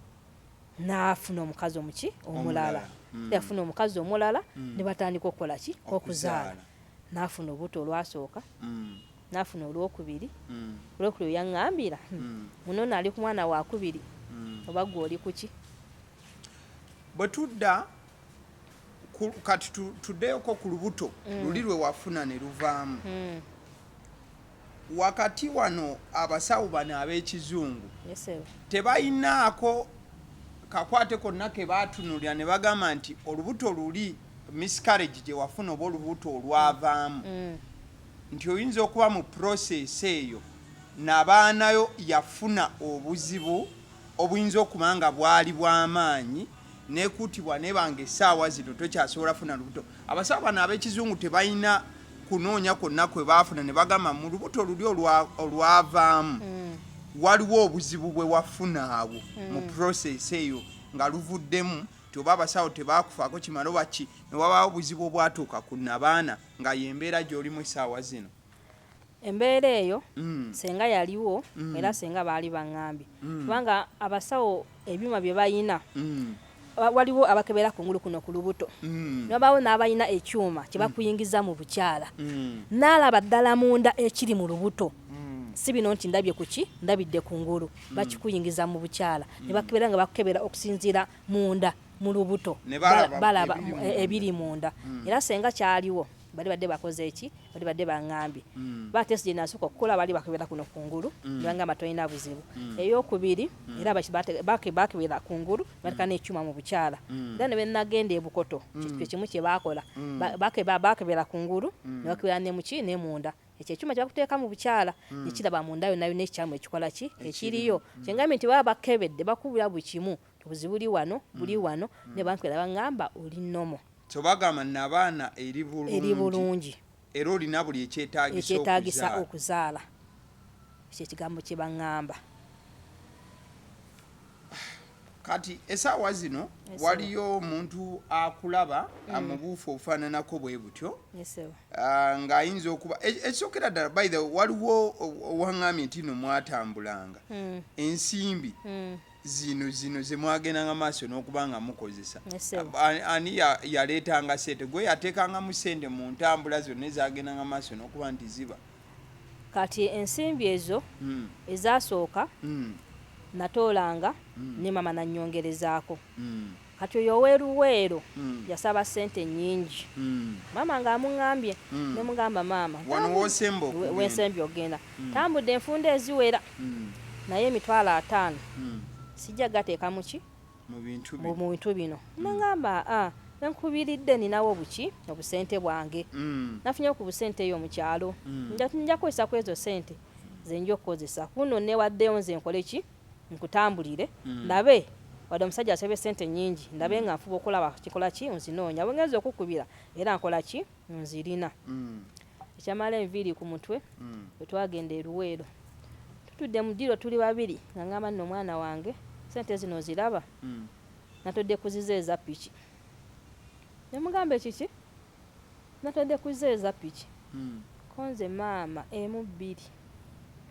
nafuna omukazi omuki omulala yafuna omukazi omulala ne batandika okukola ki okuzaala nafuna obuto olwasooka mm. nafuna olwokubiri mm. olwokubiri oyaŋambira hmm. mm. muno naali ku mwana wakubiri mm. oba gwe oli kuki bwe tudda kati tuddeyoko ku lubuto mm. luli lwe wafuna ne luvaamu mm. Wakati wano abasawo bano ab'ekizungu tebalinaako kakwate konna ke batunuulira ne bagamba nti olubuto luli, miscarriage gye wafuna oba olubuto olwavaamu, nti oyinza okuba mu process eyo nabaanayo yafuna obuzibu obuyinza okuba nga bwali bwa maanyi n'ekuutibwa n'eba ng'essaawa zino tokyasobola kufuna lubuto. Abasawo bano ab'ekizungu tebalina kunoonya kwonna kwe baafuna ne bagamba mu lubuto luli olwavaamu waliwo obuzibu bwe wafuna awo mu process eyo nga luvuddemu nti oba abasawo tebaakufaako kimala oba ki ne wabaawo obuzibu obwatuuka ku nnabaana nga y'embeera gy'olimu essaawa zino. Embeera eyo ssenga yaliwo era ssenga baali baŋŋambye kubanga abasawo ebyuma bye balina waliwo abakebera kungulu kuno ku lubuto ne wabaawo n'abalina ekyuma kye bakuyingiza mu bukyala n'alaba ddala munda ekiri mu lubuto si bino nti ndabye ku ki ndabidde kungulu bakikuyingiza mu bukyala ne bakebera nga bakukebera okusinziira munda mu lubuto balaba ebiri munda era ssenga kyaliwo. bali badde bakoze eki bali badde bangambye mm. ba test gye nasooka okukola bali bakebera kuno kungulu mm. ne bangamba tolina buzibu mm. eyokubiri mm. era bakebera kungulu mm. batika n'ekyuma mu bukyala mm. era ne benagenda ebukoto mm. kye kimu kye bakola mm. bakebera kungulu mm. ne bakebera ne muki ne munda ekyo ekyuma kyebakuteeka mu bukyala mm. nekiraba munda yona yona ekikyamu ekikola ki ekiriyo mm. kyengambye nti baba bakebedde bakubira buli kimu Obuzibu buli wano, buli mm. wano mm. ne bankwera bangamba oli nomo. So bagamba nabaana eri bulungi. Eri bulungi. Era olina buli ekyetaagisa okuzaala. Ekyetaagisa okuzaala. Ekyo ekigambo kye bangamba. Kati esaawa zino waliyo omuntu akulaba mm. amubuufu obufaananako bwe butyo ah, ng'ayinza okuba e, ekisookera ddala by the waliwo owaŋŋambye nti no mwatambulanga mm. ensimbi mm. zino zino zemwagendanga maaso n'okuba nga mukozesa ani yaleetanga sente gwe yateekangamu sente mu ntambula zonna ezagendanga maaso n'okuba nti ziba kati ensimbi ezo hmm. ezasooka hmm. natoolanga hmm. ne mama nanyongerezaako Kati oyo owe Luweero yasaba sente nyingi maama nga amungambye nemugamba maama wensembye okugenda tambudde enfunda eziwera naye emitwalo ataano sijja gateeka muki mu bintu bino nengamba a ah, nenkubiridde ninawo buki obusente bwange nafunyewo ku busente eyo mukyalo nja kukozesa kwezo sente zenja okukozesa kuno newaddeyo nze nkoleki nkutambulire mm. ndabe wadde omusajja asabye sente nyingi ndabe mm. nga nfuba okulaba kikola ki nzinoonya bwengenza okukubira era nkola ki nzirina mm. ekyamala enviiri ku mutwe mm. wetwagenda eruweero tutudde mu diro tuli babiri nga ngamba nno omwana wange sente zino ziraba mm. natodde kuziza eza piki nemugamba ekiki Natadde ku zero eza piki ko nze maama emu bbiri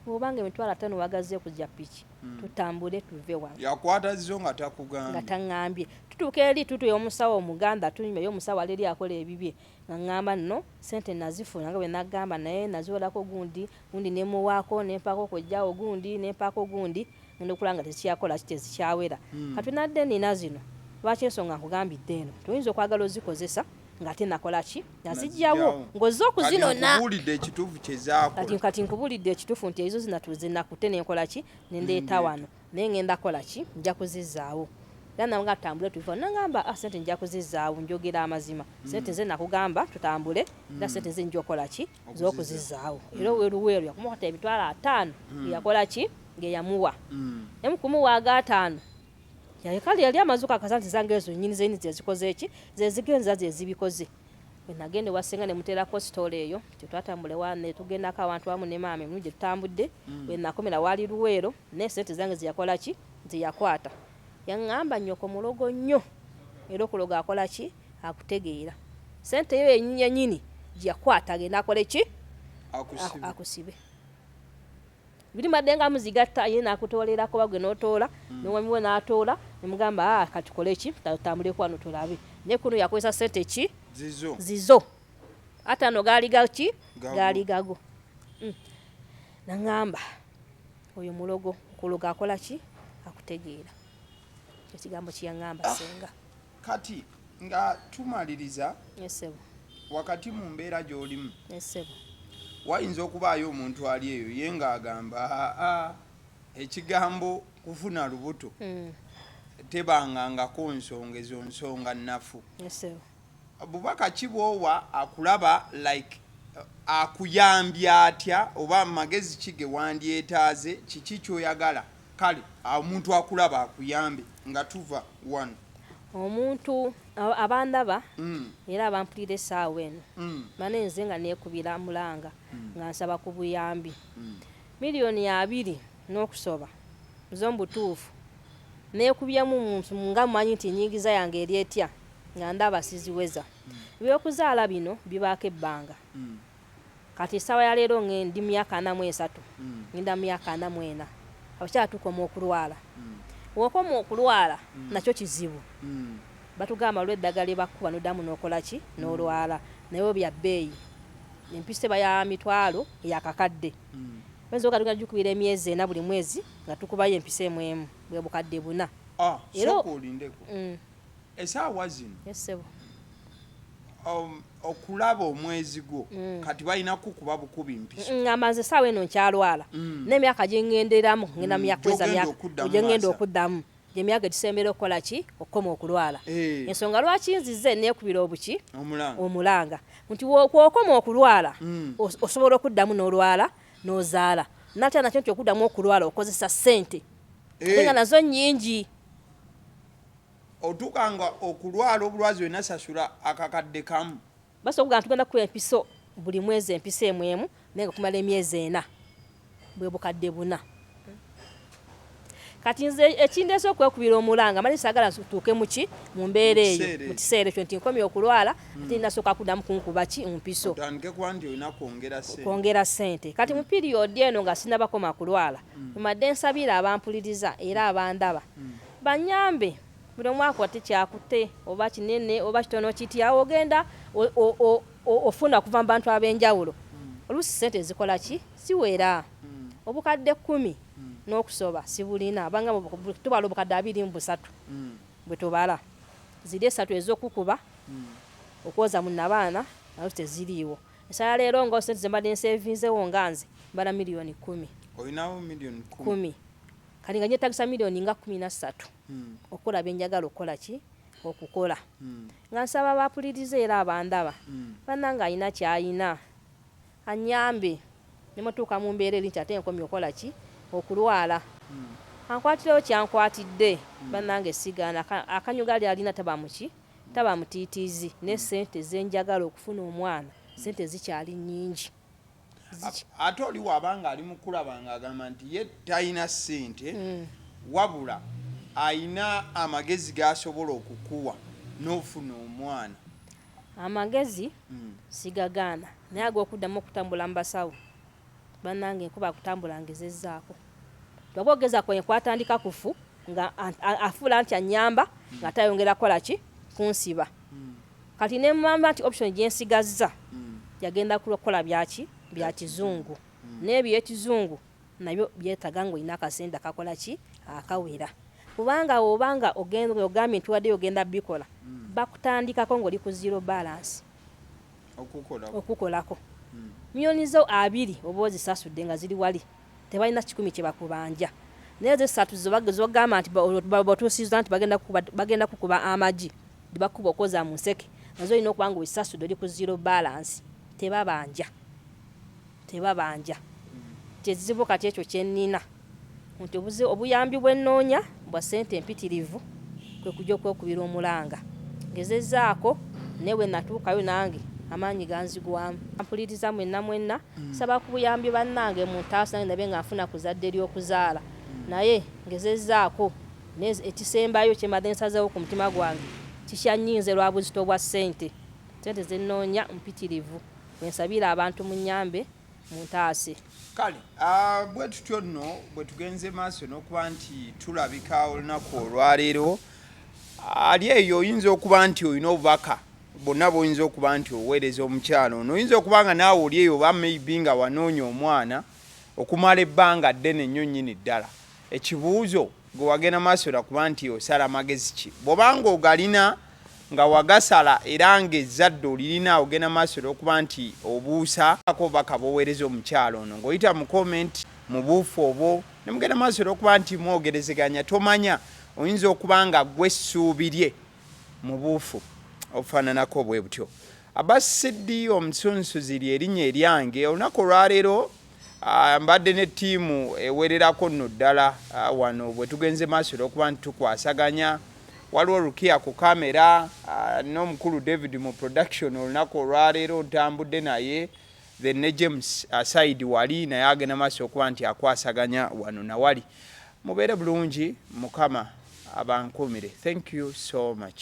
bwoba nga emitwalo atano wagaze ku ja piki tutambule tuve wano. Yakwata zzo nga takugambye? Nga tangambye. Tutuuka eri tutu y'omusawo omugambe atunyumya ye omusawo ali eri akola ebibye nga ngamba nno sente nazifuna nga bwe nagamba naye naziwerako gundi gundi ne muwaako ne mpaako kojjaawo gundi ne mpaako gundi ngenda okulaba nga tezikyakola ki tezikyawera kati nadde nina zino lwaki ensonga nkugambidde eno toyinza okwagala ozikozesa ng'ate nakola ki nazijjawo ng'ozze okuzinona kati nkubulidde ekituufu nti ezo zinatuze nakute nenkola ki nendeeta wano naye ngenda kola ki nja kuzizaawo era nawe nga tutambule tuva nangamba ah, sente nja kuzizaawo njogera amazima mm. sente nze nakugamba tutambule era mm. sente nze nja okola ki z'okuzizaawo era oweruweeru yakumukata emitwalo ataano hmm. yakola ki ngeyamuwa hmm. naye mukumuwa aga ataano kale yali amaze okakasa nti zanga ezo nyini zeni zezikoze eki zezigenza zezibikoze nagenda ewasinga nemuteerako sitoola eyo tetwatambule netugendako awantu wamu ne maama emirundi gye tutambudde hmm. wenakomera waali luweero naye sente zange zeyakola ki zeyakwata yaŋŋamba nyoko mulogo nnyo era okuloga akola ki akutegeera sente yo yenyini gyeyakwata agenda akole ki akusibe biri madde nga muzigatta ye nakutolera kuba gwe notoola mm. newamiwe natoola nemugamba a ah, katukole ki tatambulekwano tulabe naye kuno yakozesa sente ki zizo, zizo. ate ano gaali gaki gaali gago mm. naŋamba oyo mulogo kulogo akola ki akutegeera ekigambo kyeyaŋamba ah. senga Kati nga tumaliriza wakati mu mbeera gy'olimu wayinza okubaayo omuntu ali eyo ye ng'agamba aa ekigambo kufuna lubuto hmm. tebangangako nsonga ezo nsonga nnafu bubaka ki bwowa akulaba like uh, akuyambye atya oba magezi ki ge wandyetaaze kiki kyoyagala Kale omuntu akulaba akuyambe nga tuva wano. Omuntu abandaba mm. era abampulira essaawa eno mm. mane nze nga neekubira mulanga mm. nga nsaba ku buyambi mm. miliyoni abiri n'okusoba zo mbutuufu neekubyemu muntu nga mumanyi nti nyingiza yange eri etya nga ndaba siziweza mm. ebyokuzaala bino bibaako ebbanga mm. Kati esawa ya leero nge ndi myaka ana mu esatu ngenda myaka ana mu ena abakyala tukoma okulwala wokoma okulwala nakyo kizibu batugamba waliwo eddagala lyebakuba nodamu nokolaki nolwala naye wo bya beeyi empiso eba ya mitwalo ya kakadde oyinza oga tugenda jukubira emyezi ena buli mwezi nga tukubayo empiso emu emu bwebukadde buna era esaawa zino um, okulaba omwezi gwo mm. kati balina kukuba bukubi mpiso mm, amanze esaawa eno nkyalwala mm. nemyaka gyengenderamu ngenda myakweza myaka gyengenda okuddamu emyaka etusembera okukola ki okukoma okulwala eh. ensonga lwaki nzize nekubira obuki omulanga nti kwokoma okulwala hmm. osobola okuddamu n'olwala n'ozaala natya nakyo nti okuddamu okulwala okozesa ssente eh. nga nazo nyingi Otuuka nga okulwala obulwazi wena sasula akakadde kamu. Basi okugamba tugenda kukuba empiso buli mwezi empiso emu emu naye nga kumala emyezi ena bwe bukadde buna. Kati nze ekindeese okwekubira omulanga manyi sagala tuuke muki mu mbeera eyo mu kiseera ekyo nti nkomye okulwala hmm. ate nasooka kuddamu kunkuba ki mpiso kwongera ssente kati mu hmm. piriyodi eno nga sinabakoma kulwala hmm. mbadde nsabira abampuliriza era abandaba Banyambe buli omu akwate kyakutte oba kinene oba kitono kitya awo ogenda ofuna okuva mu bantu ab'enjawulo oluusi ssente ezikola ki siwera obukadde kkumi n'okusoba sibulina banga tubala obukadde abiri mu busatu bwe tubala ziri esatu ez'okukuba okwoza mu nabaana nazo teziriiwo esala leero nga ssente ze mbadde nsevinzewo nga nze mbala miliyoni kkumi olinawo miliyoni kkumi kati nga nyetagisa milioni nga kumi na ssatu hmm. okukola byenjagala okukola ki okukola hmm. nga nsaba bapuliriza era abandaba hmm. bananga alina kyalina anyambe nemutuuka mu mbeera eri nti ate nkomye okukola ki okulwala ankwatirewo kyankwatidde banange sigaana akanyuga ali alina taba muki taba mutiitiizi ne sente zenjagala okufuna omwana sente zikyali nyingi ate oli wabanga ali mukulaba nga agamba nti ye talina sente mm. wabula ayina amagezi gasobola okukuwa nofuna omwana amagezi mm. sigagaana naye agokuddamu okutambula mu basawo banange nkuba akutambula ngezezaako bagogeza kwenye kwatandika kufu nga afuula nti anyamba mm. nga tayongera kukola ki kunsiba mm. Kati nemugamba nti option gyensigazza yagenda kukola byaki bya kizungu naye byekizungu nabyo byetaga ngaolina akasente akakola ki akawera kubanga woba nga ogenda ogambye nti waddeyo ogenda bikola bakutandikako ngaoli ku zero balance okukolako miyoni zo abiri oba ozisasudde nga ziri wali tebalina kikumi kye bakubanja naye ezo essatu zogamba nti botuusiza nti bagenda kukuba amagi bakuba okoza mu nseke nazo olina okuba nga osasudde oli ku zero balance tebabanja tebabanja kyezibu kati ekyo kyenina nti obuzi obuyambi bwenoonya Mbwa ssente mpitirivu kwe kujja okwekubira omulanga. Ngezezzaako naye bwe natuukayo nange amaanyi ganzigwamu. Mpuliriza mwenna mwenna. Nsaba ku buyambi bannange muntaase nange ndabe nga nfuna ku zadde ly'okuzaala naye ngezezzaako naye ekisembayo kye mbadde nsazeewo ku mutima gwange kikyannyiinze lwa buzito bwa ssente. Ssente ze nnoonya mpitirivu. Bwe nsabira abantu munnyambe. muntaase kale ah, bwe tutyo nno bwe tugenze maaso n'okuba nti tulabika olunaku olwaleero ali eyo oyinza okuba nti olina obubaka bonna boyinza okuba nti oweereza omukyalo ono oyinza okuba nga naawe oli eyo oba maybe nga wanoonya omwana okumala ebbanga ddene nnyo nnyini ddala ekibuuzo Gwe wagenda maaso era kuba nti osala magezi ki bwoba nga ogalina nga wagasala era nga ezzadde olirina ogenda maaso era okuba nti obuusa ako baka boweereza omukyalo ono ng'oyita mu comment mu buufu obwo ne mugenda maaso era okuba nti mwogerezeganya tomanya oyinza okuba nga gwe essuubi lye mu buufu obufaananako bwe butyo. Abasidi omusunsuzi ly'erinnya eryange olunaku olwaleero. Ah, mbadde ne ttiimu ewererako nno ddala ah, wano bwe tugenze maaso olwokuba nti tukwasaganya waliwo rukia ku kamera ah, n'omukulu david mu production olunaku olwaleero ntambudde naye then ne james asaidi wali naye agenda maaso okuba nti akwasaganya wano nawali mubeere bulungi mukama abankuumire thank you so much